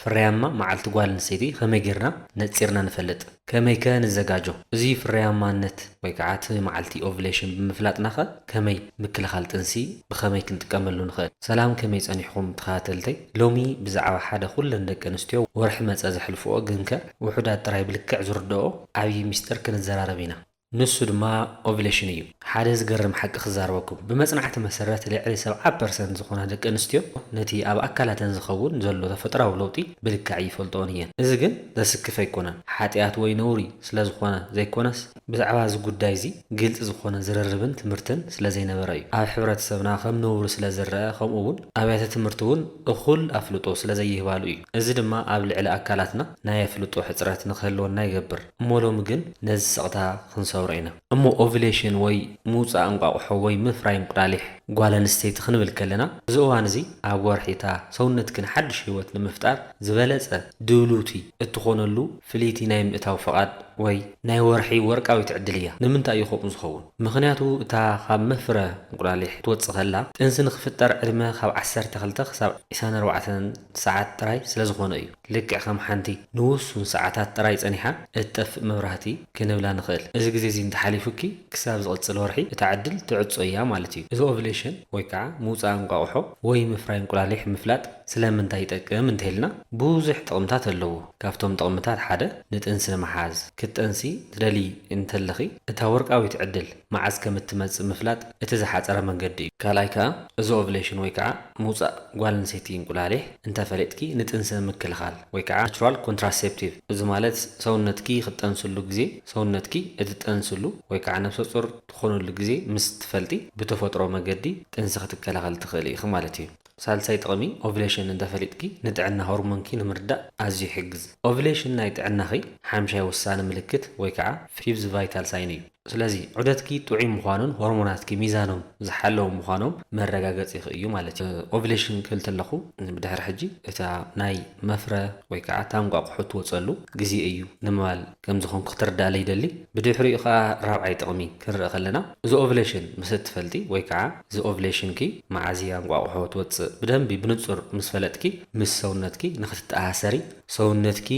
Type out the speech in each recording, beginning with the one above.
ፍርያማ መዓልቲ ጓል ኣንስተይቲ ኸመይ ጌርና ነጺርና ንፈልጥ? ከመይከ ንዘጋጆ? እዚ ፍርያማነት ወይ ከኣ እቲ መዓልቲ ኦቭሌሽን ብምፍላጥናኸ ከመይ ምክልኻል ጥንሲ ብኸመይ ክንጥቀመሉ ንኽእል? ሰላም ከመይ ጸኒሕኩም ተኸታተልተይ ሎሚ ብዛዕባ ሓደ ኩለን ደቂ ኣንስትዮ ወርሒ መጸ ዘሕልፍኦ ግንከ ውሑዳት ጥራይ ብልክዕ ዝርድኦ ዓብይ ሚስጥር ክንዘራረብ ኢና። ንሱ ድማ ኦቭለሽን እዩ። ሓደ ዝገርም ሓቂ ክዛረበኩም፣ ብመጽናዕቲ መሰረት ልዕሊ ሰብዓ ፐርሰንት ዝኾና ደቂ ኣንስትዮ ነቲ ኣብ ኣካላተን ዝኸውን ዘሎ ተፈጥራዊ ለውጢ ብልክዕ ኣይፈልጥኦን እየን። እዚ ግን ዘስክፍ ኣይኮነን፣ ሓጥያት ወይ ነውሪ ስለ ዝኾነ ዘይኮነስ፣ ብዛዕባ እዚ ጉዳይ እዚ ግልጺ ዝኾነ ዝርርብን ትምህርትን ስለ ዘይነበረ እዩ። ኣብ ሕብረተሰብና ከም ነውሪ ስለ ዝረኣ ከምኡ እውን ኣብያተ ትምህርቲ እውን እኹል ኣፍልጦ ስለ ዘይህባሉ እዩ። እዚ ድማ ኣብ ልዕሊ ኣካላትና ናይ ኣፍልጦ ሕጽረት ንክህልወና ይገብር። እሞ ሎሚ ግን ነዚ ስቕታ ክንሰብሮ ኢና። እሞ ኦቭሌሽን ወይ ምውጻእ እንቋቑሖ ወይ ምፍራይ እንቁላሊሕ ጓል ኣንስተይቲ ክንብል ከለና እዚ እዋን እዚ ኣብ ወርሒ እታ ሰውነትኪ ንሓድሽ ህይወት ንምፍጣር ዝበለጸ ድልውቲ እትኾነሉ ፍልይቲ ናይ ምእታው ፍቓድ ወይ ናይ ወርሒ ወርቃዊት ዕድል እያ። ንምንታይ እዩ ከምኡ ዝኸውን? ምኽንያቱ እታ ካብ መፍረ እንቁላሊሕ ክትወጽእ ከላ ጥንሲ ንኽፍጠር ዕድመ ካብ ዓሰርተ ክልተ ክሳብ ዕስራን ኣርባዕተን ሰዓት ጥራይ ስለዝኾነ እዩ። ልክዕ ከም ሓንቲ ንውሱን ሰዓታት ጥራይ ጸኒሓ እትጠፍእ መብራህቲ ክንብላ ንኽእል። እዚ ግዜ እዚ እንተሓሊፉኪ ክሳብ ዝቕጽል ወርሒ እታ ዕድል ትዕጾ እያ ማለት እዩ። እዚ ኦቭሌሽን ወይ ከኣ ምውጻእ እንቋቑሖ ወይ ምፍራይ እንቁላሊሕ ምፍላጥ ስለምንታይ ይጠቅም እንተኢልና ብዙሕ ጥቕምታት ኣለዎ። ካብቶም ጥቕምታት ሓደ ንጥንሲ ንምሓዝ፣ ክትጠንሲ ትደልዪ እንተለኺ እታ ወርቃዊት ዕድል መዓዝ ከም እትመጽእ ምፍላጥ እቲ ዝሓጸረ መንገዲ እዩ። ካልኣይ ከኣ እዚ ኦቭሌሽን ወይ ከኣ ምውጻእ ጓል ኣንስተይቲ እንቁላሊሕ እንተ ፈሊጥኪ ንጥንሲ ምክልኻል ወይ ከኣ ናቹራል ኮንትራሴፕቲቭ እዚ ማለት ሰውነትኪ ክትጠንስሉ ግዜ ሰውነትኪ እትጠንስሉ ወይ ከኣ ነብሰጹር ትኾንሉ ግዜ ምስ ትፈልጢ ብተፈጥሮ መገዲ ጥንሲ ክትከላኸሊ ትኽእሊ ኢኺ ማለት እዩ። ሳልሳይ ጥቕሚ ኦቭሌሽን እንተ ፈሊጥኪ ንጥዕና ሆርሞንኪ ንምርዳእ ኣዝዩ ይሕግዝ። ኦቭሌሽን ናይ ጥዕናኺ ሓምሻይ ወሳኒ ምልክት ወይ ከኣ ፊቭዝ ቫይታል ሳይን እዩ። ስለዚ ዑደትኪ ጥዑይ ምዃኑን ሆርሞናትኪ ሚዛኖም ዝሓለዉ ምዃኖም መረጋገጺኺ እዩ ማለት እዩ። ኦቭሌሽን ክብል ተለኹ ብድሕሪ ሕጂ እታ ናይ መፍረ ወይ ከኣ እታ እንቋቑሖ እትወጸሉ ግዜ እዩ ንምባል ከም ዝኾንኩ ክትርድኣለይ ይደሊ። ብድሕሪኡ ከኣ ራብዓይ ጥቕሚ ክንርኢ ከለና እዚ ኦቭሌሽን ምስ እትፈልጢ ወይ ከኣ እዚ ኦቭሌሽንኪ መዓዝ እያ እንቋቑሖ ትወጽእ ብደንቢ ብንጹር ምስ ፈለጥኪ ምስ ሰውነትኪ ንኽትተኣሳሰሪ ሰውነትኪ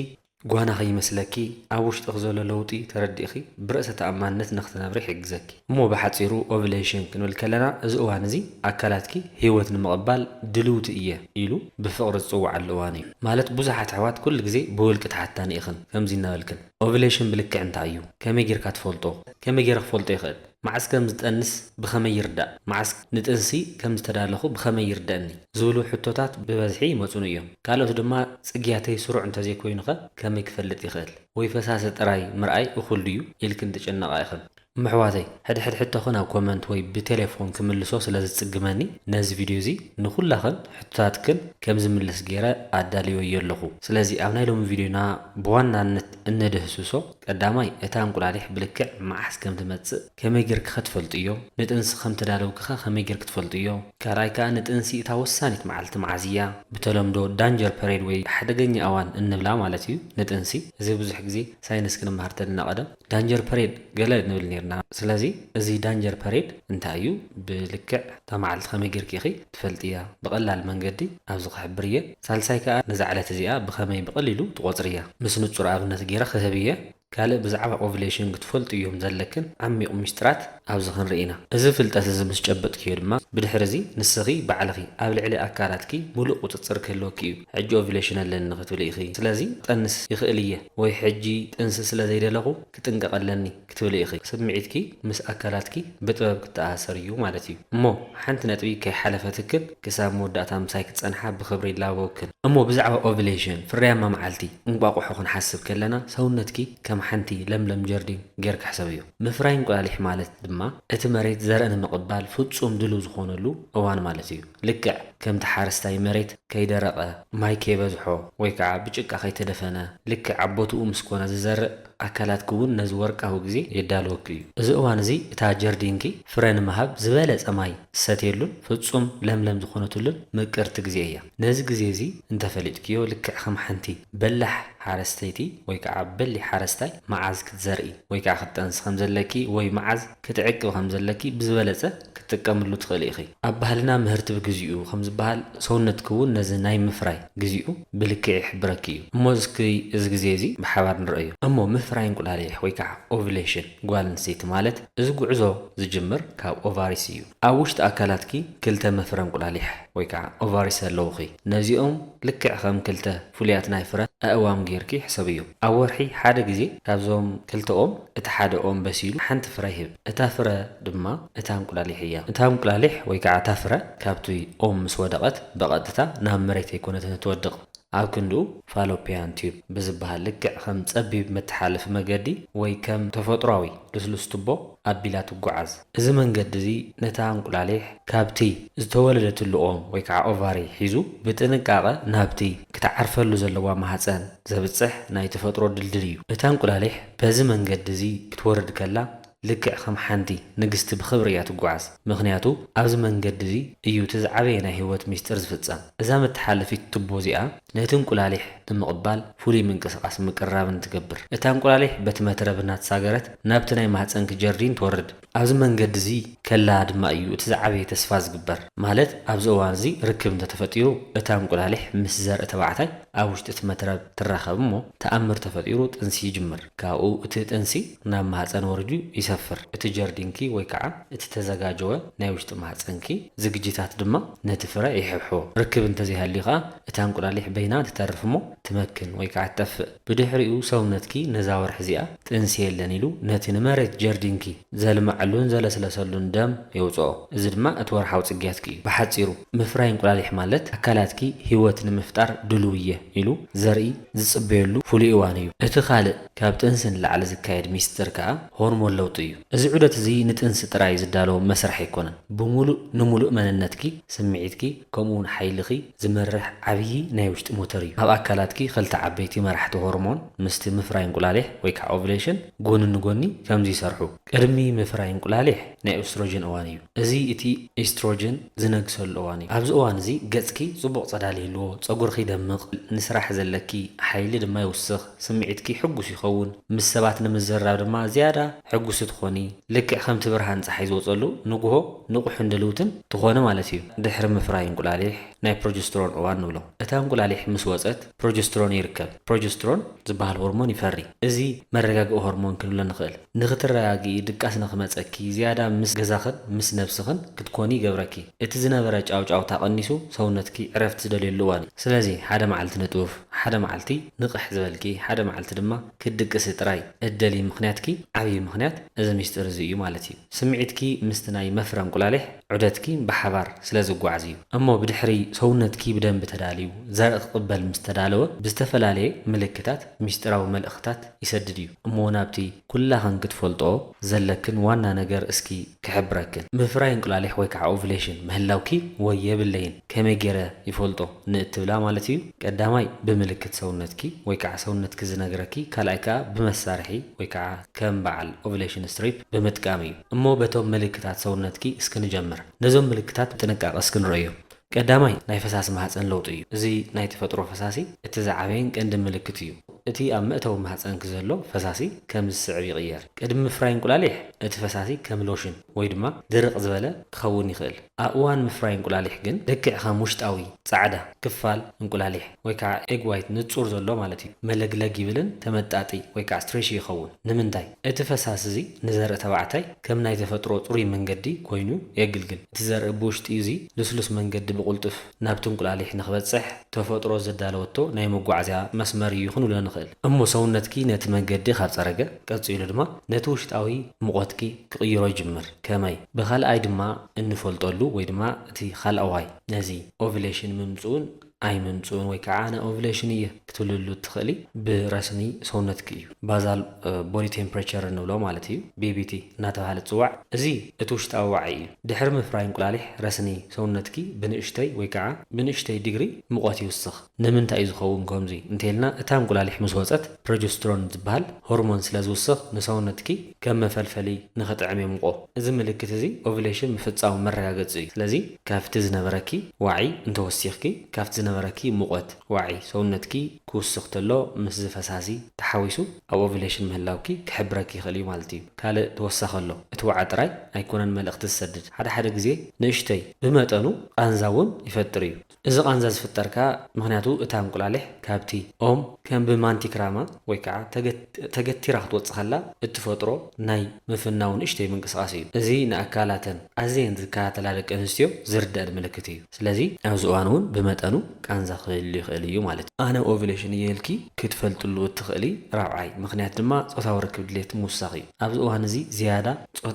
ጓና ከይመስለኪ ኣብ ውሽጥኺ ዘሎ ለውጢ ተረዲእኺ ብርእሰ ተኣማንነት ንኽትነብሪ ይሕግዘኪ። እሞ ብሓጺሩ ኦቭሌሽን ክንብል ከለና እዚ እዋን እዚ ኣካላትኪ ህይወት ንምቕባል ድልውቲ እየ ኢሉ ብፍቕሪ ዝጽውዓሉ እዋን እዩ። ማለት ብዙሓት ኣሕዋት ኩሉ ግዜ ብውልቂ ተሓታኒ ኢኽን ከምዚ እናበልክን ኦቭሌሽን ብልክዕ እንታይ እዩ? ከመይ ጌርካ ትፈልጦ? ከመይ ጌረ ክፈልጦ ይኽእል? መዓስ ከም ዝጠንስ ብኸመይ ይርዳእ? መዓስ ንጥንሲ ከም ዝተዳለኹ ብኸመይ ይርደኣኒ? ዝብሉ ሕቶታት ብበዝሒ ይመጹኒ እዮም። ካልኦት ድማ ጽግያተይ ስሩዕ እንተ ዘይኰይኑኸ ከመይ ክፈልጥ ይኽእል? ወይ ፈሳሲ ጥራይ ምርኣይ እኹል ድዩ? ኢልክን ትጭነቓ ኢኽን። እሞ ኣሕዋተይ፣ ሕድሕድ ሕቶኽን ኣብ ኮመንት ወይ ብቴሌፎን ክምልሶ ስለ ዝጽግመኒ፣ ነዚ ቪድዮ እዚ ንዅላኽን ሕቶታትክን ከም ዝምልስ ገይረ ኣዳልየዮ ኣለኹ። ስለዚ ኣብ ናይ ሎሚ ቪድዮና ብዋናነት እነድህስሶ፣ ቀዳማይ፣ እታ እንቁላሊሕ ብልክዕ መዓስ ከም ትመጽእ ከመይ ጌርኪኸ ትፈልጥዮ? ንጥንሲ ከም ተዳለውኪኸ ከመይ ጌርኪ ትፈልጥዮ? ካልኣይ ከኣ ንጥንሲ እታ ወሳኒት መዓልቲ መዓዝ እያ? ብተለምዶ ዳንጀር ፐሬድ ወይ ሓደገኛ እዋን እንብላ ማለት እዩ ንጥንሲ። እዚ ብዙሕ ግዜ ሳይንስ ክንመሃር ተለና ቀደም ዳንጀር ፐሬድ ገለ ንብል ኔርና። ስለዚ እዚ ዳንጀር ፐሬድ እንታይ እዩ? ብልክዕ። እታ መዓልቲ ከመይ ጌርኪ ኢኺ ትፈልጥያ? ብቐላል መንገዲ ኣብዚ ክሕብር እየ። ሳልሳይ ከኣ ነዛ ዕለት እዚኣ ብኸመይ ብቐሊሉ ትቖጽርያ? ምስ ንጹር ኣብነት ጌረ ክህብ እየ። ካልእ ብዛዕባ ኦቭሌሽን ክትፈልጥዮም ዘለክን ዓሚቝ ምስጢራት ኣብዚ ክንርኢ ኢና። እዚ ፍልጠት እዚ ምስ ጨበጥክዮ ድማ ብድሕሪ እዚ ንስኺ ባዕልኺ ኣብ ልዕሊ ኣካላትኪ ምሉእ ቁጽጽር ክህልወኪ እዩ። ሕጂ ኦቭሌሽን ኣለኒ ክትብሊ ኢኺ። ስለዚ ክጠንስ ይኽእል እየ ወይ ሕጂ ጥንሲ ስለ ዘይደለኹ ክጥንቀቕ ኣለኒ። ክትብሊ ኢኺ። ስምዒትኪ ምስ ኣካላትኪ ብጥበብ ክተኣሳሰር እዩ ማለት እዩ። እሞ ሓንቲ ነጥቢ ከይሓለፈትክን ክሳብ መወዳእታ ምሳይ ክትጸንሓ ብኽብሪ ይላበወክን። እሞ ብዛዕባ ኦቭሌሽን፣ ፍርያማ መዓልቲ፣ እንቋቑሖ ክንሓስብ ከለና ሰውነትኪ ከም ሓንቲ ለምለም ጀርዲን ጌርኪ ሕሰብዮ። ምፍራይ እንቁላሊሕ ማለት ድማ እቲ መሬት ዘርኢ ንምቕባል ፍጹም ድልው ዝኾነሉ እዋን ማለት እዩ። ልክዕ ከምቲ ሓረስታይ መሬት ከይደረቐ፣ ማይ ከይበዝሖ ወይ ከዓ ብጭቃ ከይተደፈነ ልክዕ ኣብ ቦትኡ ምስ ኮነ ዝዘርእ፣ ኣካላትኪ'ውን ነዚ ወርቃዊ ግዜ የዳልወኪ እዩ። እዚ እዋን እዚ እታ ጀርዲንኪ ፍረ ንምሃብ ዝበለጸ ማይ ዝሰትየሉን ፍጹም ለምለም ዝኾነትሉን ምቅርቲ ግዜ እያ። ነዚ ግዜ እዚ እንተ ፈሊጥክዮ ልክዕ ከም ሓንቲ በላሕ ሓረስተይቲ ወይ ከኣ በሊ ሓረስታይ መዓዝ ክትዘርኢ ወይ ከኣ ክትጠንሲ ከም ዘለኪ ወይ መዓዝ ክትዕቅቢ ከም ዘለኪ ብዝበለጸ ክትጥቀምሉ ትኽእሊ ኢኺ። ኣብ ባህልና ምህርቲ ብግዚኡ ከም ዝበሃል፣ ሰውነትኪ እውን ነዚ ናይ ምፍራይ ግዚኡ ብልክዕ ይሕብረኪ እዩ። እሞ እስኪ እዚ ግዜ እዚ ብሓባር ንርኣዮ። እሞ ምፍራይ እንቁላሊሕ ወይ ከዓ Ovulation ጓል ኣንስተይቲ ማለት እዚ ጉዕዞ ዝጅምር ካብ ኦቫሪስ እዩ። ኣብ ውሽጢ ኣካላትኪ ክልተ መፍረ እንቁላሊሕ ወይ ከዓ ኦቫሪስ ኣለዉኺ። ነዚኦም ልክዕ ከም ክልተ ፍሉያት ናይ ፍረ ኣእዋም ገይርኪ ሕሰብዮም። ኣብ ወርሒ ሓደ ግዜ ካብዞም ክልተ ኦም እቲ ሓደ ኦም በሲሉ ሓንቲ ፍረ ይህብ። እታ ፍረ ድማ እታ እንቁላሊሕ እያ። እታ እንቁላሊሕ ወይ ከዓ እታ ፍረ ካብቲ ኦም ምስ ወደቐት ብቐጥታ ናብ መሬት ኣይኮነትን እትወድቕ። ኣብ ክንድኡ ፋሎፒያን ቲዩብ ብዝበሃል ልክዕ ከም ፀቢብ መተሓላለፊ መገዲ ወይ ከም ተፈጥሯዊ ልስሉስ ቱቦ ኣቢላ ትጎዓዝ። እዚ መንገዲ እዚ ነታ እንቁላሊሕ ካብቲ ዝተወለደትሉ ኦም ወይ ከዓ ኦቫሪ ሒዙ ብጥንቃቐ ናብቲ ክትዓርፈሉ ዘለዋ ማህፀን ዘብፅሕ ናይ ተፈጥሮ ድልድል እዩ። እታ እንቁላሊሕ በዚ መንገዲ እዚ ክትወርድ ከላ ልክዕ ከም ሓንቲ ንግስቲ ብኽብሪ እያ ትጉዓዝ ምኽንያቱ ኣብዚ መንገዲ እዚ እዩ እቲ ዝዓበየ ናይ ህይወት ሚስጢር ዝፍጸም። እዛ መተሓለፊት ቱቦ እዚኣ ነቲ እንቁላሊሕ ንምቕባል ፍሉይ ምንቅስቓስ ምቅርራብን ትገብር። እታ እንቁላሊሕ በቲ መትረብ እናተሳገረት ናብቲ ናይ ማህጸንኪ ጀርዲን ትወርድ። ኣብዚ መንገዲ እዚ ከላ ድማ እዩ እቲ ዝዓበየ ተስፋ ዝግበር ማለት ኣብዚ እዋን እዚ ርክብ እንተተፈጢሩ እታ እንቁላሊሕ ምስ ዘርኢ ተባዕታይ፣ ኣብ ውሽጢ እቲ መትረብ ትራኸብ እሞ ተኣምር ተፈጢሩ ጥንሲ ይጅምር። ካብኡ እቲ ጥንሲ ናብ ማህጸን ወሪዱ ይሰፍር። እቲ ጀርዲንኪ ወይ ከዓ እቲ ተዘጋጀወ ናይ ውሽጢ ማህጸንኪ ዝግጅታት ድማ ነቲ ፍረ ይሕብሕቦ። ርክብ እንተዘይሃልዩ ከዓ እታ እንቁላሊሕ በይና ትተርፍ እሞ ትመክን ወይ ከዓ ትጠፍእ። ብድሕሪኡ ሰውነትኪ ነዛ ወርሒ እዚኣ ጥንሲ የለን ኢሉ ነቲ ንመሬት ጀርዲንኪ ዘልመዐሉን ዘለስለሰሉን ደም የውፅኦ። እዚ ድማ እቲ ወርሓዊ ፅግያትኪ እዩ። ብሓፂሩ ምፍራይ እንቁላሊሕ ማለት ኣካላትኪ ህይወት ንምፍጣር ድሉው እየ ኢሉ ዘርኢ ዝፅበየሉ ፍሉይ እዋን እዩ። እቲ ካልእ ካብ ጥንሲ ንላዕሊ ዝካየድ ሚስጥር ከዓ ሆርሞን ለውጢ እዩ። እዚ ዑደት እዚ ንጥንሲ ጥራይ ዝዳሎ መስርሕ ኣይኮነን። ብሙሉእ ንሙሉእ መንነትኪ፣ ስምዒትኪ ከምኡ እውን ሓይልኺ፣ ዝመርሕ ዓብዪ ናይ ውሽጢ ሞተር እዩ። ኣብ ኣካላትኪ ክልተ ዓበይቲ መራሕቲ ሆርሞን ምስቲ ምፍራይ እንቁላሊሕ ወይ ከዓ ኦቭሌሽን ጎኒ ንጎኒ ከምዚ ይሰርሑ። ቅድሚ ምፍራይ እንቁላሊሕ ናይ ኦስትሮጅን እዋን እዩ። እዚ እቲ ኢስትሮጅን ዝነግሰሉ እዋን እዩ። ኣብዚ እዋን እዚ ገፅኪ ፅቡቕ ፀዳል ይህልዎ፣ ፀጉርኺ ይደምቕ፣ ንስራሕ ዘለኪ ሓይሊ ድማ ይውስኽ፣ ስምዒትኪ ሕጉስ ይኸውን፣ ምስ ሰባት ንምዝርራብ ድማ ዝያዳ ሕጉስቲ ትኾኒ፣ ልክዕ ከምቲ ብርሃን ጸሓይ ዝወጸሉ ንጉሆ ንቑሕን ድልውትን ትኾኒ ማለት እዩ። ድሕሪ ምፍራይ እንቁላሊሕ ናይ ፕሮጀስትሮን እዋን ንብሎ። እታ እንቁላሊሕ ምስ ወጸት ፕሮጀስትሮን ይርከብ። ፕሮጀስትሮን ዝበሃል ሆርሞን ይፈሪ። እዚ መረጋግኢ ሆርሞን ክንብሎ ንኽእል። ንኽትረጋግኢ፣ ድቃስ ንኽመጸኪ፣ ዝያዳ ምስ ገዛኽን ምስ ነብስኽን ክትኮኒ ይገብረኪ። እቲ ዝነበረ ጫውጫውታ ቀኒሱ ሰውነትኪ ዕረፍቲ ዝደልየሉ እዋን እዩ። ስለዚ ሓደ መዓልቲ ንጡፍ፣ ሓደ መዓልቲ ንቕሕ ዝበልኪ፣ ሓደ መዓልቲ ድማ ክትድቅሲ ጥራይ እደልዪ ምኽንያትኪ ዓብዪ ምኽንያት እዚ ሚስጢር እዚ እዩ ማለት እዩ። ስምዒትኪ ምስቲ ናይ መፍረ እንቁላሊሕ ዑደትኪ ብሓባር ስለ ዝጓዓዝ እዩ። እሞ ብድሕሪ ሰውነትኪ ብደንቢ ተዳልዩ ዘርኢ ክቕበል ምስ ተዳለወ ብዝተፈላለየ ምልክታት ሚስጢራዊ መልእኽትታት ይሰድድ እዩ። እሞ ናብቲ ኩላኽን ክትፈልጥኦ ዘለክን ዋና ነገር እስኪ ክሕብረክን። ምፍራይ እንቁላሊሕ ወይ ከዓ ኦቭሌሽን ምህላውኪ ወይ የብለይን ከመይ ገይረ ይፈልጦ? ንእትብላ ማለት እዩ። ቀዳማይ ብምልክት ሰውነትኪ ወይ ከዓ ሰውነትኪ ዝነግረኪ ካልኣይ ከዓ ብመሳርሒ ወይ ከዓ ከም በዓል ኦቭሌሽን ስትሪፕ ብምጥቃም እዩ። እሞ በቶም ምልክታት ሰውነትኪ እስኪ ንጀምር። ነዞም ምልክታት ብጥንቃቐ እስኪ ንረእዮም። ቀዳማይ ናይ ፈሳሲ ማህፀን ለውጢ እዩ። እዚ ናይ ተፈጥሮ ፈሳሲ እቲ ዝዓበየን ቀንድን ምልክት እዩ። እቲ ኣብ መእተዊ ማህፀንኪ ዘሎ ፈሳሲ ከምዚ ዝስዕብ ይቕየር። ቅድሚ ምፍራይ እንቁላሊሕ እቲ ፈሳሲ ከም ሎሽን። ወይ ድማ ድርቕ ዝበለ ክኸውን ይኽእል። ኣብ እዋን ምፍራይ እንቁላሊሕ ግን ልክዕ ከም ውሽጣዊ፣ ጻዕዳ፣ ክፋል እንቁላሊሕ ወይ ከዓ ኤግ ዋይት ንጹር ዘሎ ማለት እዩ መለግለግ ይብልን ተመጣጢ ወይ ከዓ ስትሬሺ ይኸውን። ንምንታይ? እቲ ፈሳሲ እዚ ንዘርኢ ተባዕታይ ከም ናይ ተፈጥሮ ጽሩይ መንገዲ ኮይኑ የግልግል። እቲ ዘርኢ ብውሽጢ እዚ ልስሉስ መንገዲ ብቕልጡፍ። ናብቲ እንቁላሊሕ ንክበጽሕ ተፈጥሮ ዘዳለወቶ ናይ መጓዓዝያ መስመር እዩ ክንብሎ ንኽእል እሞ ሰውነትኪ ነቲ መንገዲ ካብ ጸረገ ቀጺሉ ድማ ነቲ ውሽጣዊ ሙቖትኪ ክቕይሮ ይጅምር ከመይ ብኻልኣይ ድማ እንፈልጠሉ ወይ ድማ እቲ ኻልኣዋይ ነዚ ኦቭሌሽን ምምጽኡን ኣይምምጽኡን ወይ ከኣ ኣነ ኦቭሌሽን እየ ክትብልሉ እትኽእሊ ብረስኒ ሰውነትኪ እዩ። ባዛል ቦዲ ቴምፕሬቸር እንብሎ ማለት እዩ፣ BBT፣ እናተብሃለ ዝጽዋዕ። እዚ እቲ ውሽጣዊ ዋዒ እዩ። ድሕሪ ምፍራይ እንቁላሊሕ ረስኒ ሰውነትኪ ብንእሽተይ ወይ ከኣ ብንእሽተይ ዲግሪ ሙቐት ይውስኽ። ንምንታይ እዩ ዝኸውን ከምዚ እንተይልና እታ እንቁላሊሕ ምስ ወጸት ፕሮጀስትሮን ዝበሃል ሆርሞን ስለ ዝውስኽ ንሰውነትኪ ከም መፈልፈሊ ንኽጥዕም የሙቖ። እዚ ምልክት እዚ ኦቭሌሽን ምፍጻሙ መረጋገጺ እዩ። ስለዚ ካብቲ ዝነበረኪ ዋዒ እንተወሲኽኪ ካብቲ ዝነበረኪ ሙቐት። ዋዒ ሰውነትኪ ክውስኽ ተሎ ምስዚ ፈሳሲ ተሓዊሱ ኣብ ኦቭለሽን ምህላውኪ ክሕብረኪ ይኽእል እዩ ማለት እዩ። ካልእ ተወሳኺ ኣሎ እቲ ዋዒ ጥራይ ኣይኮነን መልእኽቲ ዝሰድድ ሓደ ሓደ ግዜ ንእሽተይ ብመጠኑ ቃንዛ እውን ይፈጥር እዩ። እዚ ቃንዛ ዝፍጠር ከኣ ምኽንያቱ እታ እንቁላሊሕ ካብቲ ኦም ከም ብማንቲክራማ ወይ ከኣ ተገቲራ ክትወጽእ ከላ እትፈጥሮ ናይ ምፍናው ንእሽተይ ምንቅስቓስ እዩ። እዚ ንኣካላተን ኣዝየን ዝከታተላ ደቂ ኣንስትዮ ዝርደኣን ምልክት እዩ። ስለዚ ኣብዚ እዋን እውን ብመጠኑ ቃንዛ ክህሉ ይኽእል እዩ ማለት እዩ። ኣነ ኦቭሌሽን እየ ኢልኪ ክትፈልጥሉ እትኽእሊ ራብዓይ ምኽንያት ድማ ጾታዊ ርክብ ድሌት ምውሳኽ እዩ። ኣብዚ እዋን እዚ ዝያዳ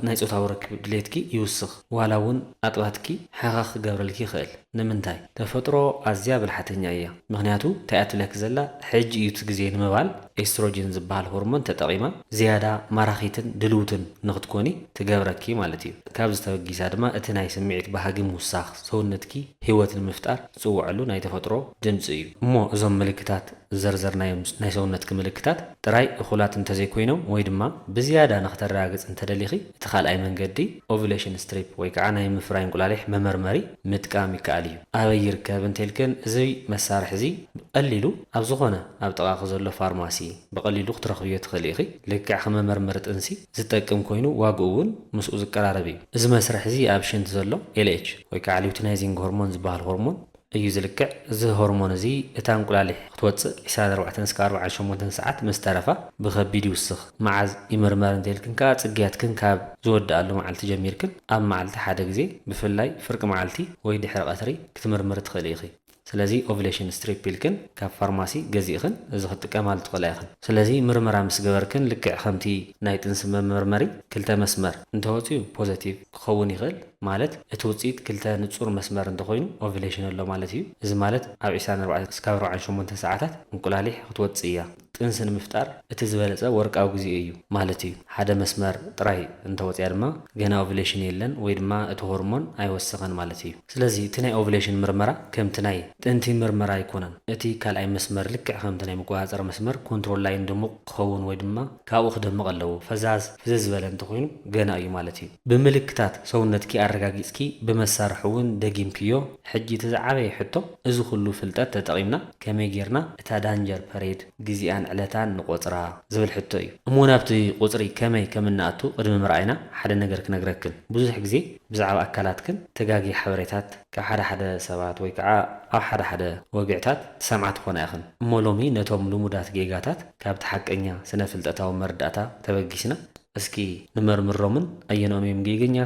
ናይ ጾታዊ ርክብ ድሌትኪ ይውስኽ ዋላ እውን ኣጥባትኪ ሓኻ ክገብረልኪ ይኽእል። ንምንታይ? ተፈጥሮ ኣዝያ ብልሓተኛ እያ ምኽንያቱ እንታይ እያ ትብለኪ ዘላ ሕጂ እዩ እቲ ግዜ ንምባል፣ ኤስትሮጅን ዝበሃል ሆርሞን ተጠቒማ ዝያዳ ማራኺትን ድልውትን ንኽትኮኒ ትገብረኪ ማለት እዩ። ካብዚ ተበጊሳ ድማ እቲ ናይ ስምዒት ባህጊ ምውሳኽ፣ ሰውነትኪ ህይወት ንምፍጣር ዝጽውዐሉ ናይ ተፈጥሮ ድምጺ እዩ። እሞ እዞም ምልክታት ዝዘርዘርናዮም ናይ ሰውነትኪ ምልክታት ጥራይ እኹላት እንተዘይኮይኖም ወይ ድማ ብዝያዳ ንኽተረጋግጺ እንተደሊኺ፣ እቲ ካልኣይ መንገዲ ኦቭዩሌሽን ስትሪፕ ወይ ከዓ ናይ ምፍራይ እንቁላሊሕ መመርመሪ ምጥቃም ይከኣል እዩ። ኣበይ ይርከብ እንተይልክን እዚ መሳርሒ እዚ ብቀሊሉ ኣብ ዝኾነ ኣብ ጥቓኺ ዘሎ ፋርማሲ ብቀሊሉ ክትረኽብዮ ትኽእሊ ኢኺ። ልክዕ ከም መመርመሪ ጥንሲ ዝጠቅም ኮይኑ ዋግኡ እውን ምስኡ ዝቀራረብ እዩ። እዚ መስርሒ እዚ ኣብ ሽንቲ ዘሎ ኤልኤች ወይ ከዓ ሊውቲናይዚንግ ሆርሞን ዝበሃል ሆርሞን እዩ ዝልክዕ እዚ ሆርሞን እዚ እታ እንቁላሊሕ ክትወጽእ ዕስራን ኣርባዕተን እስከ ኣርብዓን ሸሞንተን ሰዓት ምስ ተረፋ ብከቢድ ይውስኽ መዓዝ ይምርመር እንተኢልክን ከኣ ጽግያትክን ካብ ዝወድኣሉ መዓልቲ ጀሚርክን ኣብ መዓልቲ ሓደ ግዜ ብፍላይ ፍርቂ መዓልቲ ወይ ድሕሪ ቀትሪ ክትምርምሪ ትክእሊ ኢኺ ስለዚ ኦቭሌሽን ስትሪፕ ኢልክን ካብ ፋርማሲ ገዚእኽን እዚ ክትጥቀማሉ ትክእላ ኢኽን ስለዚ ምርመራ ምስ ገበርክን ልክዕ ከምቲ ናይ ጥንሲ መመርመሪ ክልተ መስመር እንተወጽዩ ፖዘቲቭ ክኸውን ይክእል ማለት እቲ ውጽኢት ክልተ ንጹር መስመር እንተኾይኑ ኦቭሌሽን ኣሎ ማለት እዩ። እዚ ማለት ኣብ ዒስራን ኣርባዕተን እስካብ ኣርብዓን ሸሞንተን ሰዓታት እንቁላሊሕ ክትወጽእ እያ። ጥንሲ ንምፍጣር እቲ ዝበለጸ ወርቃዊ ግዜ እዩ ማለት እዩ። ሓደ መስመር ጥራይ እንተወጽያ ድማ ገና ኦቭሌሽን የለን ወይ ድማ እቲ ሆርሞን ኣይወሰኸን ማለት እዩ። ስለዚ እቲ ናይ ኦቭሌሽን ምርመራ ከምቲ ናይ ጥንቲ ምርመራ ኣይኮነን። እቲ ካልኣይ መስመር ልክዕ ከምቲ ናይ መቆጻጸሪ መስመር፣ ኮንትሮል ላይን፣ ድሙቕ ክኸውን ወይ ድማ ካብኡ ክደምቕ ኣለዎ። ፈዛዝ፣ ፍዝዝ ዝበለ እንተኾይኑ ገና እዩ ማለት እዩ። ብምልክታት ሰውነትኪ ኣረጋጊጽኪ ብመሳርሒ ውን ደጊምክዮ ሕጂ እቲ ዝዓበየ ሕቶ እዚ ኩሉ ፍልጠት ተጠቂምና ከመይ ጌርና እታ ዳንጀር ፐሬድ ግዜኣን ዕለታን ንቆጽራ ዝብል ሕቶ እዩ እሞ ናብቲ ቁጽሪ ከመይ ከምንኣቱ ቅድሚ ምርኣይና ሓደ ነገር ክነግረክን ብዙሕ ግዜ ብዛዕባ ኣካላትክን ተጋጊ ሓበሬታት ካብ ሓደ ሓደ ሰባት ወይ ከኣ ኣብ ሓደ ሓደ ወግዕታት ትሰምዓ ትኮና ኢክን እሞ ሎሚ ነቶም ልሙዳት ጌጋታት ካብቲ ሓቀኛ ስነ ፍልጠታዊ መረዳእታ ተበጊስና እስኪ ንመርምሮምን ኣየንኦም እዮም ጌገኛ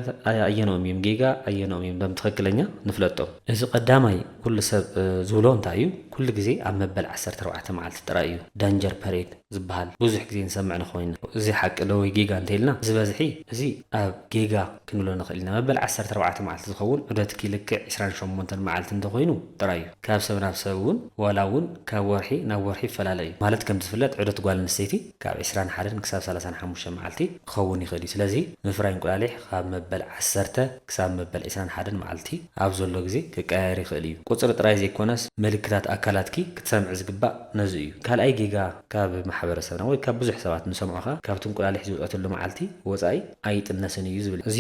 ኣየንኦም እዮም ጌጋ ኣየንኦም እዮም ደም ትኽክለኛ ንፍለጦም። እዚ ቀዳማይ ኩሉ ሰብ ዝብሎ እንታይ እዩ ኩሉ ግዜ ኣብ መበል ዓሰርተ ኣርባዕተ መዓልቲ ጥራይ እዩ ዳንጀር ፐሬድ ዝብሃል ብዙሕ ግዜ ንሰምዕ ንኾይና እዚ ሓቂ ዶ ወይ ጌጋ እንተይልና ዝበዝሒ እዚ ኣብ ጌጋ ክንብሎ ንኽእል ኢና መበል ዓሰርተ ኣርባዕተ መዓልቲ ዝኸውን ዑደትኪ ልክዕ ዕስራን ሸሞንተን መዓልቲ እንተኾይኑ ጥራይ እዩ ካብ ሰብ ናብ ሰብ እውን ዋላ እውን ካብ ወርሒ ናብ ወርሒ ይፈላለ እዩ ማለት ከምዝፍለጥ ዑደት ጓል ኣንስተይቲ ካብ ዕስራን ሓደን ክሳብ ሰላሳን ሓሙሽተን መዓልቲ ክኸውን ይኽእል እዩ። ስለዚ ምፍራይ እንቁላሊሕ ካብ መበል ዓሰርተ ክሳብ መበል ዕስራን ሓደን መዓልቲ ኣብ ዘሎ ግዜ ክቀያየር ይኽእል እዩ። ቁጽሪ ጥራይ ዘይኮነስ ምልክታት ኣካላትኪ ክትሰምዒ ዝግባእ ነዚ እዩ። ካልኣይ ጌጋ ካብ ማሕበረሰብና ወይ ካብ ብዙሕ ሰባት ንሰምዖ ከኣ ካብቲ እንቁላሊሕ ዝውጸትሉ መዓልቲ ወጻኢ ኣይጥነስን እዩ ዝብል እዩ። እዚ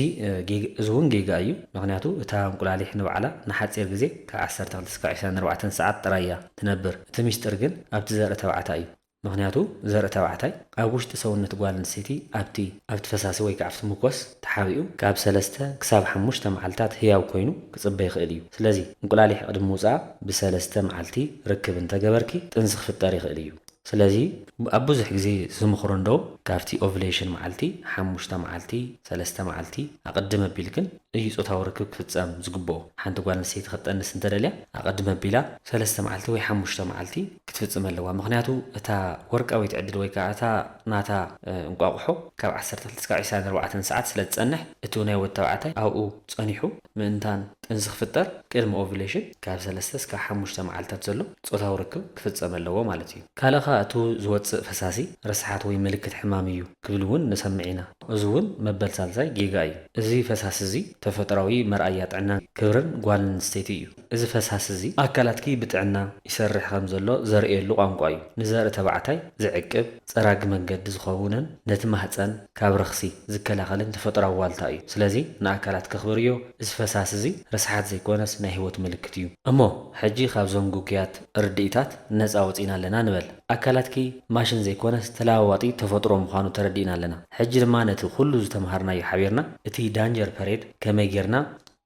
እዚ እውን ጌጋ እዩ። ምኽንያቱ እታ እንቁላሊሕ ንባዕላ ንሓጺር ግዜ ካብ ዓሰርተ ክልተ ስካብ ዕስራን ኣርባዕተን ሰዓት ጥራይ እያ ትነብር። እቲ ሚስጥር ግን ኣብቲ ዘርኢ ተባዕታይ እዩ። ምኽንያቱ ዘርኢ ተባዕታይ ኣብ ውሽጢ ሰውነት ጓል ኣንስተይቲ ኣብቲ ኣብቲ ፈሳሲ ወይከዓ ኣብቲ ሙኮስ ተሓቢኡ ካብ ሰለስተ ክሳብ ሓሙሽተ መዓልታት ህያው ኮይኑ ክጽበ ይኽእል እዩ። ስለዚ እንቁላሊሕ ቅድሚ ምውጽኣ ብሰለስተ መዓልቲ ርክብ እንተገበርኪ ጥንሲ ክፍጠር ይኽእል እዩ። ስለዚ ኣብ ብዙሕ ግዜ ዝምኽሮ እንደውም ካብቲ ኦቭሌሽን መዓልቲ ሓሙሽተ መዓልቲ ሰለስተ መዓልቲ ኣቅድም ኣቢልክን እዩ ጾታዊ ርክብ ክፍጸም ዝግብኦ። ሓንቲ ጓል ኣንስተይቲ ክትጠንስ እንተደልያ ኣቐድም ኣቢላ ሰለስተ መዓልቲ ወይ ሓሙሽተ መዓልቲ ክትፍጽም ኣለዋ። ምኽንያቱ እታ ወርቃዊት ዕድል ወይ ከኣ እታ ናታ እንቋቑሖ ካብ ዓሰርተ ክልተ ክሳብ ዕስራን ኣርባዕተን ሰዓት ስለ ትጸንሕ እቲ ናይ ወዲ ተባዕታይ ኣብኡ ጸኒሑ ምእንታን ጥንሲ ክፍጠር ቅድሚ ኦቭዩሌሽን ካብ ሰለስተ እስካብ ሓሙሽተ መዓልታት ዘሎ ጾታዊ ርክብ ክፍጸም ኣለዎ ማለት እዩ። ካልእ ከኣ እቲ ዝወጽእ ፈሳሲ ረስሓት ወይ ምልክት ሕማም እዩ ክብል'ውን ንሰምዕ ኢና። እዚ እውን መበል ሳልሳይ ጌጋ እዩ። እዚ ፈሳሲ እዚ ተፈጥሮኣዊ መርኣያ ጥዕናን ክብርን ጓል ኣንስተይቲ እዩ። እዚ ፈሳሲ እዚ ኣካላትኪ ብጥዕና ይሰርሕ ከም ዘሎ ዘርእየሉ ቋንቋ እዩ። ንዘርኢ ተባዕታይ ዝዕቅብ፣ ጸራጊ መንገዲ ዝኸውንን ነቲ ማህጸን ካብ ረኽሲ ዝከላኸልን ተፈጥሮኣዊ ዋልታ እዩ። ስለዚ ንኣካላትኪ ኣኽብርዮ። እዚ ፈሳሲ እዚ ርስሓት ዘይኮነስ ናይ ህይወት ምልክት እዩ። እሞ ሕጂ ካብዞም ግጉያት ርድኢታት ነጻ ወጺእና ኣለና ንበል። ኣካላትኪ ማሽን ዘይኮነስ ተለዋዋጢ ተፈጥሮ ምዃኑ ተረዲእና ኣለና። ሕጂ ድማ ነቲ ኩሉ ዝተመሃርናዮ ሓቢርና እቲ ዳንጀር ፐሬድ ከመይ ጌርና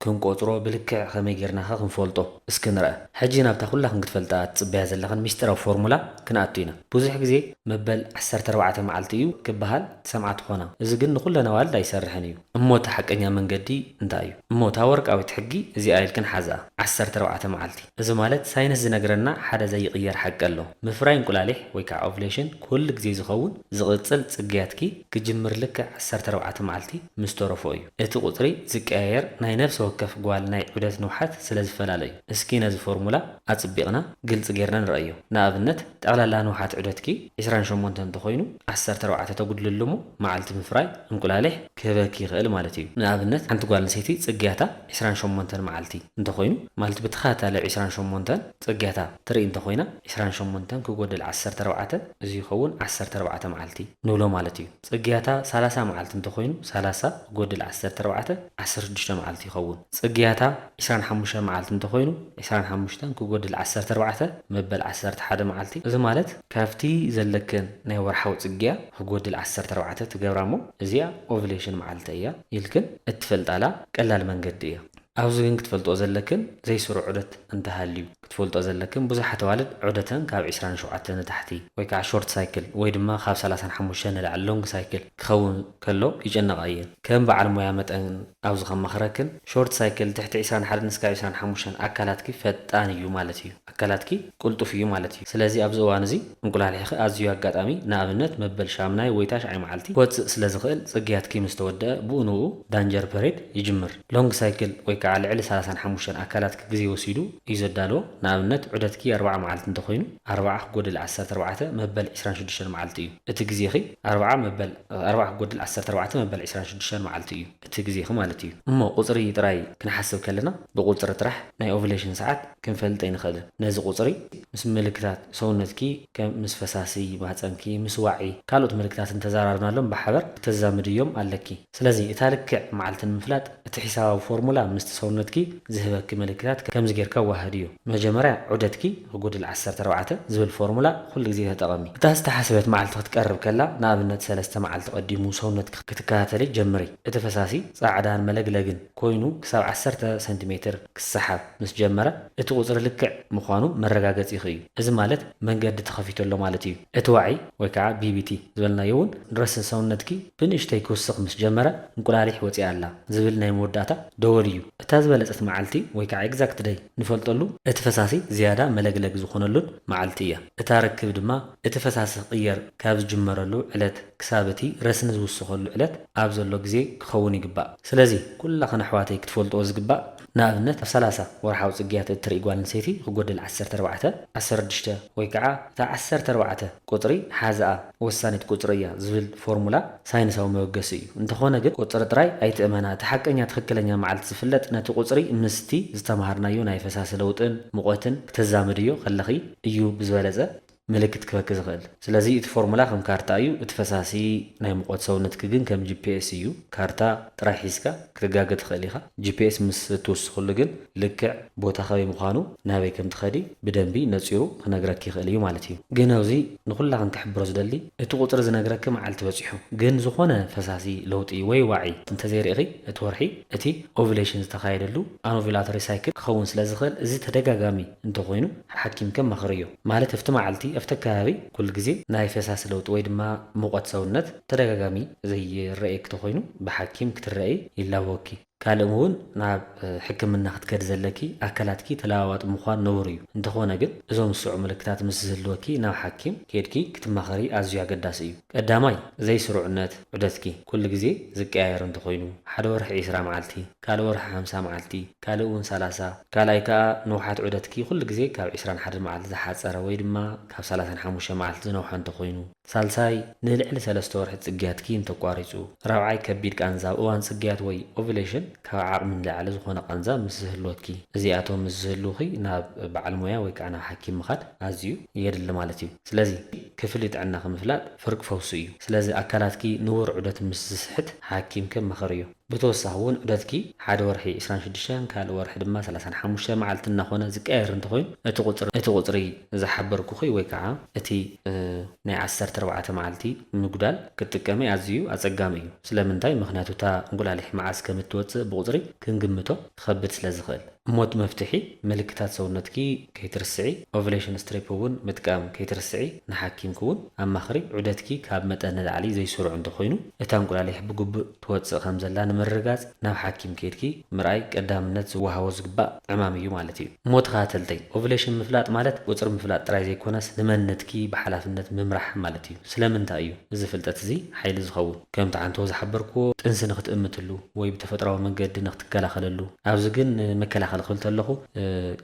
ክንቆጽሮ ብልክዕ ከመይ ጌርና ከ ክንፈልጦ እስኪ ንርኣ። ሕጂ ናብታ ኩላኽን ክትፈልጥኣ ትጽበያ ዘለኽን ሚስጢራዊ ፎርሙላ ክንኣቱ ኢና። ብዙሕ ግዜ መበል ዓሰርተ ኣርባዕተ መዓልቲ እዩ ክበሃል ትሰምዓ ትኾና። እዚ ግን ንኹለን ኣዋልድ ኣይሰርሕን እዩ። እሞ እቲ ሓቀኛ መንገዲ እንታይ እዩ? እሞ እታ ወርቃዊት ሕጊ እዚኣ ኢልክን ሓዝኣ፣ ዓሰርተ ኣርባዕተ መዓልቲ። እዚ ማለት ሳይንስ ዝነግረና ሓደ ዘይቕየር ሓቂ ኣሎ፣ ምፍራይ እንቁላሊሕ ወይ ከዓ ኦቭሌሽን ኩሉ ግዜ ዝኸውን ዝቕጽል ጽግያትኪ ክጅምር ልክዕ ዓሰርተ ኣርባዕተ መዓልቲ ምስ ተረፎ እዩ። እቲ ቁጽሪ ዝቀያየር ናይ ነፍሲ ወከፍ ጓል ናይ ዑደት ንውሓት ስለ ዝፈላለ እዩ። እስኪ ነዚ ፎርሙላ ኣጽቢቕና ግልጺ ጌርና ንርኣዮ። ንኣብነት ጠቕላላ ንውሓት ዑደትኪ ዕስራን ሸሞንተን እንተኾይኑ፣ ዓሰርተ ኣርባዕተ ተጉድለሉ እሞ መዓልቲ ምፍራይ እንቁላሊሕ ክህበኪ ይኽእል ማለት እዩ። ንኣብነት ሓንቲ ጓል ኣንሰይቲ ጽግያታ ዕስራን ሸሞንተን መዓልቲ እንተኾይኑ ማለት ብተኸታታሊ ዕስራን ሸሞንተን ጽግያታ ትርኢ እንተኾይና ዕስራን ሸሞንተን ክጎድል ዓሰርተ ኣርባዕተ እዚ ይኸውን ዓሰርተ ኣርባዕተ መዓልቲ ንብሎ ማለት እዩ። ጽግያታ ሰላሳ መዓልቲ እንተኾይኑ ሰላሳ ክጎድል ዓሰርተ ኣርባዕተ ዓሰርተ ሽዱሽተ መዓልቲ ይኸውን። ጽግያታ። ዕስራን ሓሙሽተን መዓልቲ እንተ ዀይኑ፣ ዕስራን ሓሙሽተን ኪጐድል ዓሰርተ ኣርባዕተ፣ መበል ዓሰርተ ሓደ መዓልቲ፣ እዚ ማለት ካብቲ ዘለክን ናይ ወርሓዊ ጽግያ ኺጐድል ዓሰርተ ኣርባዕተ ትገብራ እሞ፣ እዚኣ ኦቭሌሽን መዓልቲ እያ ኢልክን እትፈልጣላ ቀላል መንገዲ እያ። ኣብዚ ግን ክትፈልጥኦ ዘለክን ዘይስሩዕ ዑደት እንተ ሃልዩ። ክትፈልጦ ዘለክን ብዙሓት ኣዋልድ ዑደተን ካብ ዕስራን ሸውዓተን ንታሕቲ ወይ ከዓ ሾርት ሳይክል ወይ ድማ ካብ ሰላሳን ሓሙሽተን ንላዕሊ ሎንግ ሳይክል ክኸውን ከሎ ይጨነቓ እየን። ከም በዓል ሞያ መጠን ኣብዚ ከማኽረክን ሾርት ሳይክል ትሕቲ ዕስራን ሓደን እስካብ ዕስራን ሓሙሽተን ኣካላትኪ ፈጣን እዩ ማለት እዩ። ኣካላትኪ ቅልጡፍ እዩ ማለት እዩ። ስለዚ ኣብዚ እዋን እዚ እንቁላሊሕኺ ኣዝዩ ኣጋጣሚ ንኣብነት መበል ሻምናይ ወይ ታሽዓይ መዓልቲ ክወፅእ ስለዝኽእል ፅግያትኪ ምስተወደኣ ብኡ ንብኡ ዳንጀር ፐሬድ ይጅምር። ሎንግ ሳይክል ወይ ከኣ ልዕሊ ሰላሳን ሓሙሽተን ኣካላት ክግዜ ወሲዱ እዩ ዘዳልዎ። ንኣብነት ዑደትኪ ኣርብዓ መዓልቲ እንተኾይኑ፣ ኣርብዓ ክጎድል ዓሰርተ ኣርባዕተ መበል ዕስራን ሽዱሽተን መዓልቲ እዩ እቲ ግዜኺ። ኣርብዓ መበል ኣርብዓ ክጎድል ዓሰርተ ኣርባዕተ መበል ዕስራን ሽዱሽተን መዓልቲ እዩ እቲ ግዜኺ ማለት እዩ። እሞ ቁጽሪ ጥራይ ክንሓስብ ከለና ብቁጽሪ ጥራሕ ናይ ኦቭለሽን ሰዓት ክንፈልጥ ኣይንኽእልን። ነዚ ቁጽሪ ምስ ምልክታት ሰውነትኪ ከም ምስ ፈሳሲ ማህጸንኪ፣ ምስ ዋዒ ካልኦት ምልክታትን ተዛራርብናሎም ብሓበር ክተዛምድዮም ኣለኪ። ስለዚ እታ ልክዕ መዓልቲ ንምፍላጥ እቲ ሒሳባዊ ፎርሙላ ምስቲ ሰውነትኪ ዝህበኪ መለኪታት ከምዚ ጌርካ ኣወሃህድዮ። መጀመርያ ዑደትኪ ክጉድል ዓሰርተ ኣርባዕተ ዝብል ፎርሙላ ኩሉ ግዜ ተጠቐሚ። እታ ዝተሓስበት መዓልቲ ክትቀርብ ከላ ንኣብነት ሰለስተ መዓልቲ ቀዲሙ ሰውነትኪ ክትከታተሊ ጀምሪ። እቲ ፈሳሲ ጻዕዳን መለግለግን። ኮይኑ ክሳብ ዓሰርተ ሰንቲሜትር ክሰሓብ ምስ ጀመረ እቲ ቁጽሪ ልክዕ ምዃኑ መረጋገጺኺ እዩ። እዚ ማለት መንገዲ ተኸፊቱ ኣሎ ማለት እዩ። እቲ ዋዒ ወይ ከኣ BBT ዝበልናዮ እውን ረስኒ ሰውነትኪ ብንእሽተይ ክውስኽ ምስ ጀመረ እንቁላሊሕ ወጺኣ ኣላ ዝብል ናይ መወዳእታ ደወል እዩ። እታ ዝበለጸት መዓልቲ ወይ ከኣ Exact Day ንፈልጠሉ እቲ ፈሳሲ ዝያዳ መለግለግ ዝኾነሉን መዓልቲ እያ። እታ ርክብ ድማ እቲ ፈሳሲ ክቕየር ካብ ዝጅመረሉ ዕለት ክሳብ እቲ ረስኒ ዝውስኸሉ ዕለት ኣብ ዘሎ ግዜ ክኸውን ይግባእ። ስለዚ ኩላኽን ኣሕዋተይ ክትፈልጥኦ ዝግባእ ንኣብነት ኣብ ሰላሳ ወርሓዊ ጽግያት እትርኢ ጓል ኣንሰይቲ ክጎድል ዓሰርተ ኣርባዕተ፣ ዓሰርድሽተ ወይ ከኣ እታ ዓሰርተ ኣርባዕተ ቁጽሪ ሓዝኣ ወሳኒት ቁጽሪ እያ ዝብል ፎርሙላ ሳይንሳዊ መበገሲ እዩ። እንተኾነ ግን ቁጽሪ ጥራይ ኣይትእመና እቲ ሓቀኛ ትኽክለኛ መዓልቲ ዝፍለጥ ነቲ ቁጽሪ ምስቲ ዝተማሃርናዮ ናይ ፈሳሲ ለውጥን ሙቐትን ክተዛምድዮ ከለኺ እዩ ብዝበለጸ ምልክት ክህበኪ ዝኽእል። ስለዚ እቲ ፎርሙላ ከም ካርታ እዩ፣ እቲ ፈሳሲ ናይ ሙቐት ሰውነትኪ ግን ከም ጂፒኤስ እዩ፣ ካርታ ጥራይ ሒዝካ ክትጋገ ትኽእሊ ኢኻ፣ ጂፒኤስ ምስ እትውስኽሉ ግን ልክዕ ቦታ ከበይ ምዃኑ ናበይ ከም ትኸዲ ብደንቢ ነጺሩ ክነግረኪ ይኽእል እዩ ማለት እዩ። ግን ኣብዚ ንኹላኽን ክሕብሮ ዝደሊ እቲ ቁጽሪ ዝነግረኪ መዓልቲ በጺሑ ግን ዝኾነ ፈሳሲ ለውጢ ወይ ዋዒ እንተዘይርኢኺ እቲ ወርሒ እቲ ኦቭሌሽን ዝተኻየደሉ ኣኖቭላቶሪ ሳይክል ክኸውን ስለዝኽእል እዚ ተደጋጋሚ እንተኾይኑ ሓኪምከ መኽርዮ። ማለት ኣብቲ መዓልቲ ኣብቲ ኣከባቢ ኩሉ ግዜ ናይ ፈሳሲ ለውጢ ወይ ድማ ሙቐት ሰውነት ተደጋጋሚ ዘይረኣየኪ ተኾይኑ ብሓኪም ክትረኣዪ ይላበወኪ። ካልእ እውን ናብ ሕክምና ክትከዲ ዘለኪ ኣካላትኪ ተለዋዋጢ ምዃን ንቡር እዩ። እንተኾነ ግን እዞም ዝስዕቡ ምልክታት ምስ ዝህልወኪ ናብ ሓኪም ኬድኪ ክትማኸሪ ኣዝዩ ኣገዳሲ እዩ። ቀዳማይ ዘይስሩዕነት ዑደትኪ ኩሉ ግዜ ዝቀያየር እንተኾይኑ፣ ሓደ ወርሒ ዕስራ መዓልቲ፣ ካልእ ወርሒ ሓምሳ መዓልቲ፣ ካልእ እውን ሰላሳ፣ ካልኣይ ከኣ ንውሓት ዑደትኪ ኩሉ ግዜ ካብ ዕስራን ሓደን መዓልቲ ዝሓጸረ ወይ ድማ ካብ ሰላሳን ሓሙሽተን መዓልቲ ዝነውሓ እንተኾይኑ፣ ሳልሳይ ንልዕሊ ሰለስተ ወርሒ ጽግያትኪ እንተቋሪጹ፣ ራብዓይ ከቢድ ቃንዛ ኣብ እዋን ጽግያት ወይ ኦቭሌሽን ካብ ዓቕሚ ንላዕሊ ዝኾነ ቃንዛ ምስ ዝህልወኪ። እዚኣቶም ምስ ዝህልዉኺ ናብ በዓል ሞያ ወይ ከኣ ናብ ሓኪም ምኻድ ኣዝዩ የድሊ ማለት እዩ። ስለዚ ክፍሊ ጥዕናኺ ምፍላጥ ፍርቂ ፈውሲ እዩ። ስለዚ ኣካላትኪ ንቡር ዑደት ምስ ዝስሕት ሓኪምኪ ኣማኽርዮ። ብተወሳኺ እውን ዑደትኪ ሓደ ወርሒ ዕስራን ሽዱሽተን ካልእ ወርሒ ድማ ሰላሳን ሓሙሽተን መዓልቲ እናኾነ ዝቀያየር እንተኾይኑ እቲ ቁፅሪ እቲ ቁፅሪ ዝሓበርኩኺ ወይ ከዓ እቲ ናይ ዓሰርተ ኣርባዕተ መዓልቲ ምጉዳል ክትጥቀሚ ኣዚዩ ኣፀጋሚ እዩ። ስለምንታይ? ምኽንያቱ እታ እንቁላሊሕ መዓዝ ከምእትወፅእ ብቁፅሪ ክንግምቶ ይኸብድ ስለዝኽእል። ሞት መፍትሒ፣ ምልክታት ሰውነትኪ ከይትርስዒ፣ ኦቭሌሽን ስትሪፕ እውን ምጥቃም ከይትርስዒ፣ ንሓኪምኪ እውን ኣማኽሪ፣ ዑደትኪ ካብ መጠን ንላዕሊ ዘይስሩዕ እንተኾይኑ፣ እታ እንቁላሊሕ ብግቡእ ትወጽእ ከምዘላ ንምርግጋጽ ናብ ሓኪም ከይድኪ ምርኣይ ቀዳምነት ዝወሃቦ ዝግባእ ዕማም እዩ ማለት እዩ። ሞት ኻተልተይ፣ ኦቭሌሽን ምፍላጥ ማለት ቁጽሪ ምፍላጥ ጥራይ ዘይኮነስ ንመንነትኪ ብሓላፍነት ምምራሕ ማለት እዩ። ስለምንታይ እዩ እዚ ፍልጠት እዚ ሓይሊ ዝኸውን? ከምቲ ዓንተቦ ዝሓበርክዎ ጥንሲ ንኽትእምትሉ ወይ ብተፈጥራዊ መንገዲ ንኽትከላኸለሉ፣ ኣብዚ ግን ንመከላኸሊ ክብል ተለኹ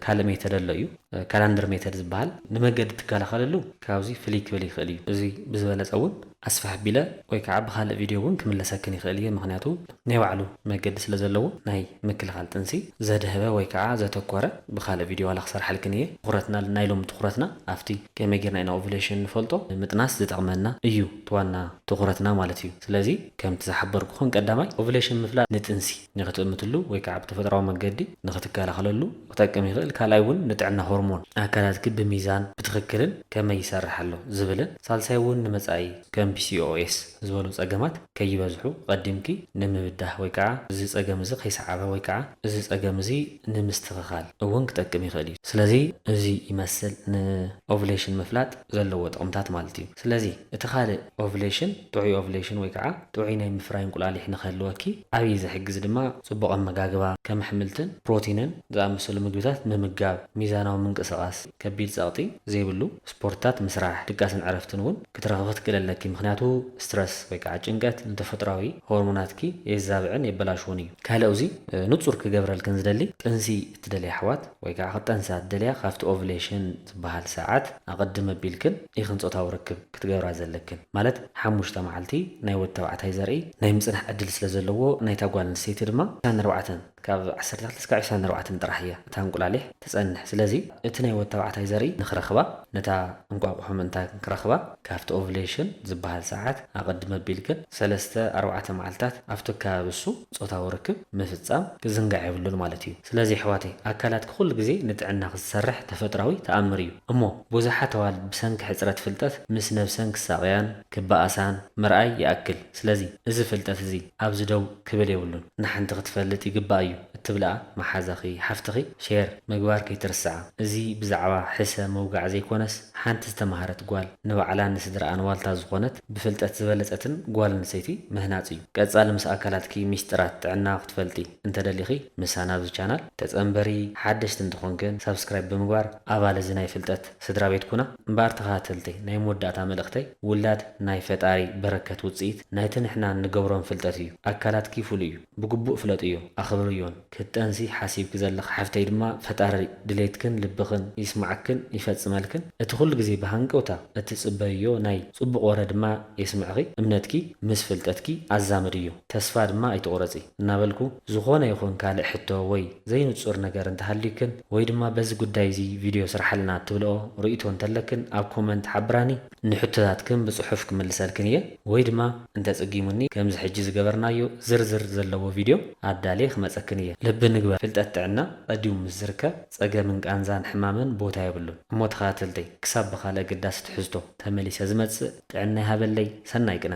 ካልእ ሜተድ ኣሎ እዩ፣ ካላንደር ሜተድ ዝበሃል፣ ንመንገዲ ትከላኸለሉ ካብዚ ፍልይ ክብል ይኽእል እዩ፣ እዚ ብዝበለጸ እውን ኣስፍሕ ኣቢለ ወይ ከዓ ብኻልእ ቪድዮ እውን ክምለሰክን ይኽእል እየ፣ ምኽንያቱ ናይ ባዕሉ መገዲ ስለ ዘለዎ ናይ ምክልኻል ጥንሲ ዘድሀበ ወይ ከዓ ዘተኮረ ብኻልእ ቪድዮ ዋላ ክሰርሓልክን እየ፣ ትኹረትና ናይ ሎሚ ትኹረትና ኣብቲ ከመይ ጌርና ኢና ኦቭሌሽን ንፈልጦ ምጥናስ ዝጠቕመና እዩ እቲ ዋና ትኹረትና ማለት እዩ። ስለዚ ከምቲ ዝሓበርኩኽን ቀዳማይ ኦቭሌሽን ምፍላጥ ንጥንሲ ንክትእምትሉ ወይ ከዓ ብተፈጥራዊ መገዲ ንክትከላኸለሉ ክጠቅም ይኽእል። ካልኣይ እውን ንጥዕና ሆርሞን ኣካላትኪ ብሚዛን ብትኽክልን ከመይ ይሰርሕ ኣሎ ዝብልን ሳልሳይ እውን ንመፃኢ ከም PCOS ዝበሉ ፀገማት ከይበዝሑ ቐዲምኪ ንምብዳህ ወይ ከዓ እዚ ፀገም እዚ ከይሰዓበ ወይ ከዓ እዚ ፀገም እዚ ንምስትኽኻል እውን ክጠቅም ይኽእል እዩ። ስለዚ እዚ ይመስል ንኦቭሌሽን ምፍላጥ። ዘለዎ ጥቕምታት ማለት እዩ። ስለዚ እቲ ካልእ ኦቭሌሽን ጥዑይ ኦቭሌሽን ወይ ከዓ ጥዑይ ናይ ምፍራይ እንቁላሊሕ ንክህልወኪ ዓብዪ ዝሕግዝ ድማ ፅቡቕ ኣመጋግባ ከም ኣሕምልትን ፕሮቲንን ዝኣመሰሉ ምግብታት ምምጋብ፣ ሚዛናዊ ምንቅስቓስ፣ ከቢድ ፀቕጢ ዘይብሉ ስፖርትታት ምስራሕ፣ ድቃስን ዕረፍትን እውን ክትረኽቢ ክትክእለለኪ ምኽንያቱ ስትረስ ወይ ከዓ ጭንቀት ንተፈጥሯዊ ሆርሞናትኪ የዛብዕን የበላሽዎን እዩ። ካልእ ኣብዚ ንፁር ክገብረልክን ዝደሊ ጥንሲ እትደልያ ኣሕዋት ወይ ከኣ ክትጠንሳ እትደልያ ካብቲ ኦቭሌሽን ዝበሃል ሰዓት ኣቐድም ኣቢልክን ኢኽን ጾታዊ ርክብ ክትገብራ ዘለክን። ማለት ሓሙሽተ መዓልቲ ናይ ወዲ ተባዕታይ ዘርኢ ናይ ምጽናሕ ዕድል ስለ ዘለዎ ናይታ ጓል ኣንስተይቲ ድማ ዕስራን ኣርባዕተን ካብ ዓሰርተ ትሽዓተ እስካብ ዕስራን ኣርባዕተን ጥራሕ እያ እታ እንቁላሊሕ ትጸንሕ ስለዚ እቲ ናይ ወዲ ተባዕታይ ዘርኢ ንኽረኽባ ነታ እንቋቑሖ ምእንታ ክረኽባ ካብቲ ኦቭሌሽን ዝበሃል ሰዓት ኣቐድም ኣቢልክን ሰለስተ ኣርባዕተ መዓልታት ኣብቲ ኣከባቢ እሱ ጾታዊ ርክብ ምፍጻም ክዝንጋዕ የብሉን ማለት እዩ። ስለዚ ኣሕዋተይ ኣካላትኪ ኩሉ ግዜ ንጥዕናኺ ዝሰርሕ ተፈጥራዊ ተኣምር እዩ። እሞ ቡዙሓት ኣዋልድ ብሰንኪ ሕጽረት ፍልጠት ምስ ነብሰን ክሳቀያን ክባኣሳን ምርኣይ ይኣክል። ስለዚ እዚ ፍልጠት እዚ ኣብዚ ደው ክብል የብሉን። ንሓንቲ ክትፈልጥ ይግባኣ እዩ እትብልኣ መሓዛኺ ሓፍትኺ ሼር ምግባር ከይትርስዓ። እዚ ብዛዕባ ሕሰ ምውጋዕ ዘይኮነስ ሓንቲ ዝተማሃረት ጓል ንባዕላን ንስድርኣን ዋልታ ዝኾነት፣ ብፍልጠት ዝበለጸትን ጓል ኣንስተይቲ ምህናጽ እዩ። ቀጻሊ ምስ ኣካላትኪ ሚስጥራት ጥዕና ክትፈልጢ እንተደሊኺ ምሳና ኣብዚ ቻናል ተጸንበሪ፣ ሓደሽቲ እንተኾንክን ሳብስክራይብ ብምግባር ኣባል እዚ ናይ ፍልጠት ስድራቤት ኩና። እምበኣር ተኸታተልተይ ናይ መወዳእታ መልእኽተይ ውላድ ናይ ፈጣሪ በረከት ውጽኢት ናይቲ ንሕና እንገብሮን ፍልጠት እዩ። ኣካላትኪ ፍሉይ እዩ ብግቡእ ፍለጥዮ ኣኽብርዮን። ክትጠንሲ ሓሲብኪ ዘለኺ ሓፍተይ ድማ ፈጣሪ ድሌትክን ልብኽን ይስማዕክን ይፈፅመልክን። እቲ ኩሉ ግዜ ብሃንቀውታ እትፅበይዮ ናይ ፅቡቕ ወረ ድማ የስምዕኺ። እምነትኪ ምስ ፍልጠትኪ ኣዛምድዮ። ተስፋ ድማ ኣይትቑረፂ እናበልኩ ዝኾነ ይኹን ካልእ ሕቶ ወይ ዘይንፁር ነገር እንተሃልዩክን ወይ ድማ በዚ ጉዳይ እዙይ ቪድዮ ስርሓልና እትብልኦ ርኢቶ እንተለክን ኣብ ኮመንት ሓብራኒ። ንሕቶታትክን ብጽሑፍ ክምልሰልክን እየ ወይ ድማ እንተጽጊሙኒ ከምዚ ሕጂ ዝገበርናዮ ዝርዝር ዘለዎ ቪድዮ ኣዳልየ ክመጸክን እየ። ልቢ ንግበር ፍልጠት ጥዕና ቀዲሙ ምስ ዝርከብ ጸገምን ቃንዛን ሕማምን ቦታ የብሉን። እሞ ተከታተልተይ ክሳብ ብካልእ ኣገዳሲ ትሕዝቶ ተመሊሰ ዝመጽእ ጥዕና ይሃበለይ ሰናይ ቅነ።